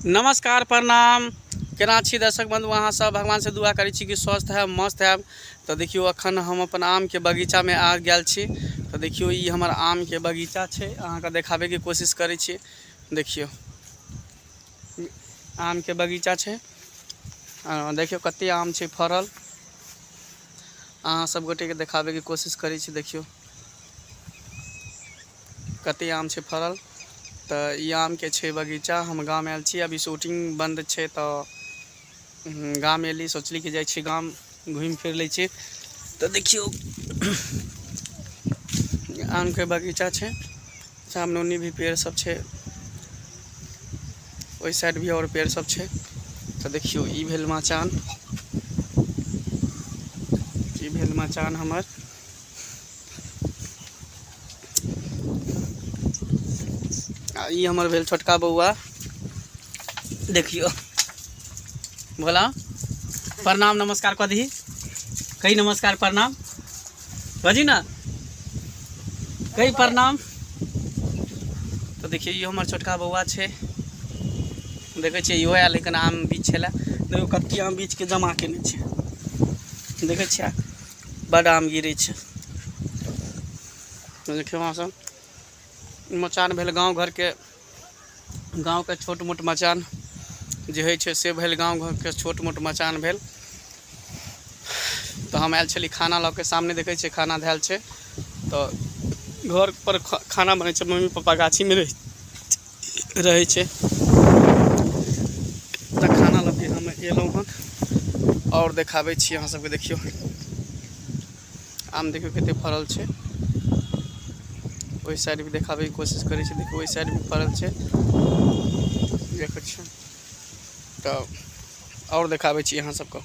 नमस्कार प्रणाम केना छी दर्शक बंधु अहाँ सब भगवान से दुआ करै छी कि स्वस्थ है मस्त है तो देखियो अखन हम अपन आम के बगीचा में आ गया छी तो देखियो ये हमार आम के बगीचा छै अहाँ के देखाबे के कोशिश करै छी देखियो आम के बगीचा छै देखियो कते आम छै फरल अहाँ सब गोटे के देखाबे के कोशिश करै छी देखियो कते आम छै फड़ल तऽ ई आम के छै बगीचा हम गाम आयल छी अभी शूटिंग बंद छै तऽ गाम एली सोचली कि जाइ छी गाम घूमि फिर लै छी तऽ देखियौ आम के बगीचा छै सामने उन्नी भी पेड़ सब छै ओहि साइड भी और पेड़ सब छै तऽ देखियौ ई भेल मचान ई भेल मचान हमर आ ई हमर भेल छोटका बौआ देखियो भोला प्रणाम नमस्कार कह दी कही नमस्कार प्रणाम बजी ना कही प्रणाम तो देखिए ये हमारे छोटका बौआ छे देखे छे यो आयल लेकिन आम बीच छे देखो कत्ती आम बीच के जमा के छे देखे छे बड आम गिरै छै देखियौ अहाँ सब मचान भेल गाँव घरके गाँवके छोट मोट मचान जे होइ छै से भेल गाँव घरके छोट मोट मचान भेल तऽ हम आयल छली खाना लऽ के सामने देखै छियै खाना धयल छै तऽ घर पर खाना बनै छै मम्मी पप्पा गाछीमे रहै रहै छै तऽ खाना लऽ के हम एलहुँ हन आओर देखाबै छी अहाँ सबके देखियौ आम देखियौ कते फड़ल छै ओहि साइड भी देखाबैके कोशिश करै छै देखियौ ओहि साइड भी फड़ल छै देखै छियै तऽ आओर देखाबै छी अहाँ सबके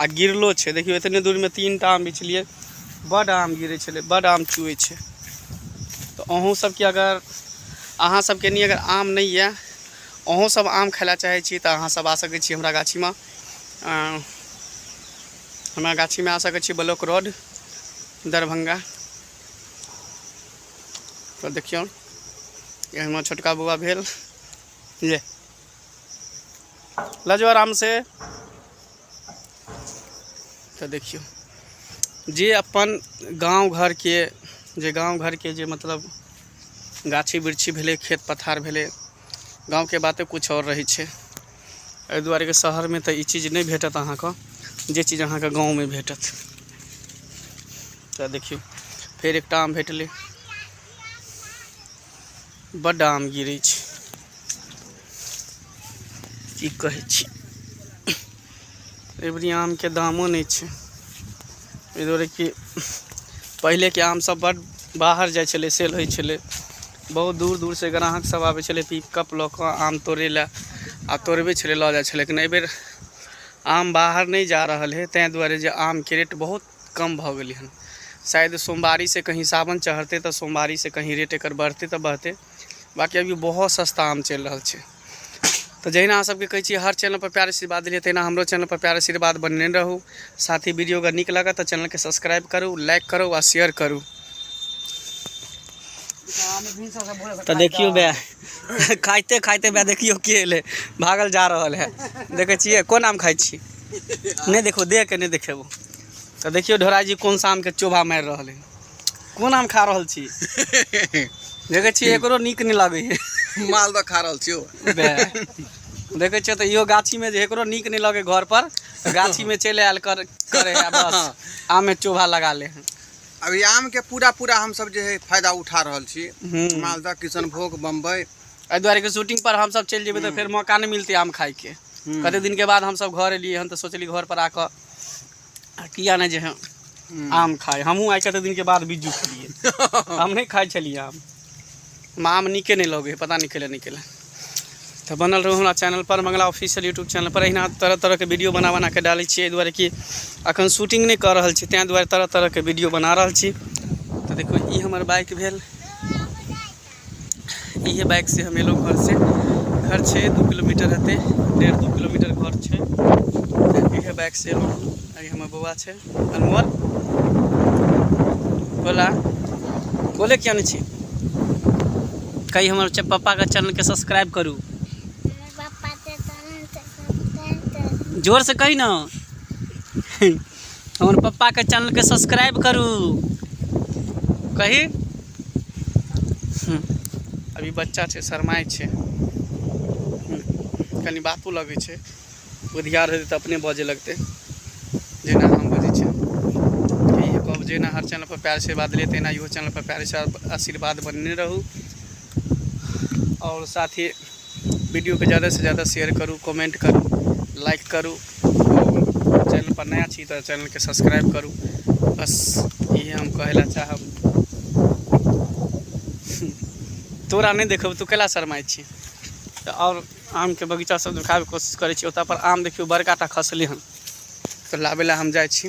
आ गिरलो छै देखियौ एतने दूरमे तीन टा आम बिछलिए बड आम गिरै छलै बड आम चुए छै तऽ अहूँ सबके अगर अहाँ सबके नहि अगर आम नहि यऽ अहूँ सब आम खाय लए चाहै छी तऽ अहाँ सब आ सकै छी हमरा गाछीमे हमरा गाछीमे आ सकै छी ब्लॉक रोड दरभंगा तो देखियौ ये हमर छोटका बौआ भेल ये लऽ जाउ आरामसँ तऽ देखियौ जे अपन गाँव घरके जे गाँव घरके जे मतलब गाछी वृक्षी भेलै खेत पथार भेलै गाँवके बाते किछु आओर रहै छै एहि दुआरे कि शहरमे तऽ ई चीज नहि भेटत अहाँके जे चीज अहाँके गाँवमे भेटत तऽ देखियौ फेर एकटा आम भेटलै बड्ड आम गिरै छै की कहै छी एहिबरी आमके दामो नहि छै एहि दुआरे कि पहिलेके आमसभ बड्ड बाहर जाइ छलै सेल होइ छलै बहुत दूर दूरसँ ग्राहकसभ आबै छलै पिकअप लऽ कऽ आम तोड़ै लए आ तोड़बै छलै लऽ जाइ छलै लेकिन एहिबेर आम बाहर नहि जा रहल हइ ताहि दुआरे जे आमके रेट बहुत कम भऽ गेलै हन शायद सोमवारी से कहीं सावन चढ़तै तऽ सोमवारी से कहीं रेट एकर बढ़तै तऽ बढ़तै बाकी अभी बहुत सस्ता आम चलि रहल छै तऽ जहिना अहाँ सबके कहै छियै हर चैनल पर प्यार आशीर्वाद देलियै तहिना हमरो चैनल पर प्यार आशीर्वाद बनने रहू साथ ही वीडियो अगर नीक लागत तऽ चैनल के सब्सक्राइब करू लाइक करू आ शेयर करू तऽ देखियो बे खाइते खाइते बे देखियो के एलै भागल जा रहल है देखै छियै कोन आम खाइ छी नहि देखो देख के नहि देखेबो तऽ देखियौ ढोरा जी कोन शाम के चोभा मारि रहल है कोन आम खा रहल छी देखे छी एकरो नीक नहि लागे है माल तऽ खा रहल छियो देखे छियै तऽ इहो गाछी में जे एकरो नीक नहि लगे घर पर गाछी में चलि आयल कर करे है बस आम में चोभा लगा ले है अभी आम के पूरा पूरा हम सब जे है फायदा उठा रहल छी हम्म। मालदह किशनभोग बम्बई एहि दुआरे के शूटिंग पर हम सब चलि जेबै तऽ फेर मौका नहि मिलते आम खाय के हूँ कते दिनके बाद हमसभ घर एलियै हन तऽ सोचलियै घरपर आ कऽ आ किया नहि जे ह हूँ आम खाइ हमहूँ आइ कते दिनके बाद बिज्जू खेलियै हम नहि खाइ छलियै आम हमरा आम नीके नहि लगै हइ पता नहि कैले नहि कैले तऽ बनल रहू हमरा चैनलपर मंगला ऑफिशियल यूट्यूब चैनलपर अहिना तरह तरहके वीडियो बना बना कऽ डालै छियै एहि दुआरे कि अखन शूटिंग नहि कऽ रहल छी ताहि दुआरे तरह तरहके वीडियो बना रहल छी तऽ देखू ई हमर बाइक भेल इहे बाइक से हम एलहुँ घर से घर छै दू किलोमीटर हेतै डेढ़ दू किलोमीटर घर छै इहे बाइक से एलहुँ अभी हमर बौआ छै अनमोल बोला बोले किया नहि छी कही हमर पप्पाके चैनलके सब्सक्राइब करू जोरसँ कही ने हमर पप्पाके चैनलके सब्सक्राइब करू कही अभी बच्चा छै शरमाइ छै कनि बातो लगै छै बुधियार हेतै तऽ अपने बजै लगतै जेना हम बजै छै कहब जेना हर चैनलपर प्यार आशीर्वाद देलियै तहिना इहो चैनलपर प्यार आशीर्वाद बनने रहू आओर साथी वीडियोके जादासँ जादा शेयर करू कमेन्ट करू लाइक करू चैनल पर नया छी तऽ चैनलके सब्सक्राइब करू बस इहे हम कहै लए चाहब तोरा नहि देखब तू कैला शरमाइ छी तऽ आओर आमके बगीचा सब देखाबैके कोशिश करै छी ओतऽ पर आम देखियौ बड़का टा खसलै हन तऽ लाबै लए हम जाइ छी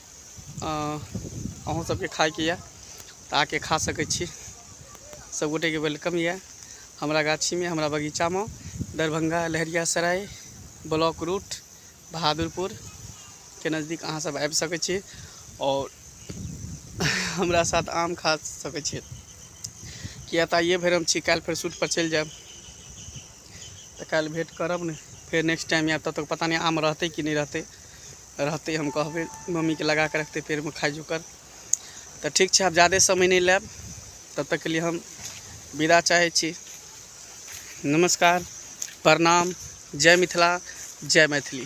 अहूँ सबके खायके यऽ तऽ आके खा सकै छी सब गोटेके वेलकम यऽ हमरा गाछीमे हमरा बगीचामे दरभंगा लहरिया सराय ब्लॉक रूट बहादुरपुर के नजदीक अहाँ सब आबि सकै छी आओर हमरा साथ आम खा सकै छी किया तऽ आइए भरि हम छी काल्हि फेर शूटपर चलि जायब तऽ काल्हि भेट करब ने फेर नेक्स्ट टाइम आयब तब तक पता नहि आम रहतै कि नहि रहतै रहतै हम कहबै मम्मीके लगाके रखतै पेड़मे खाइ जोकर तऽ ठीक छै आब जादे समय नहि लेब तब तकके लिए हम विदा चाहै छी नमस्कार प्रणाम जय मिथिला जय मैथिली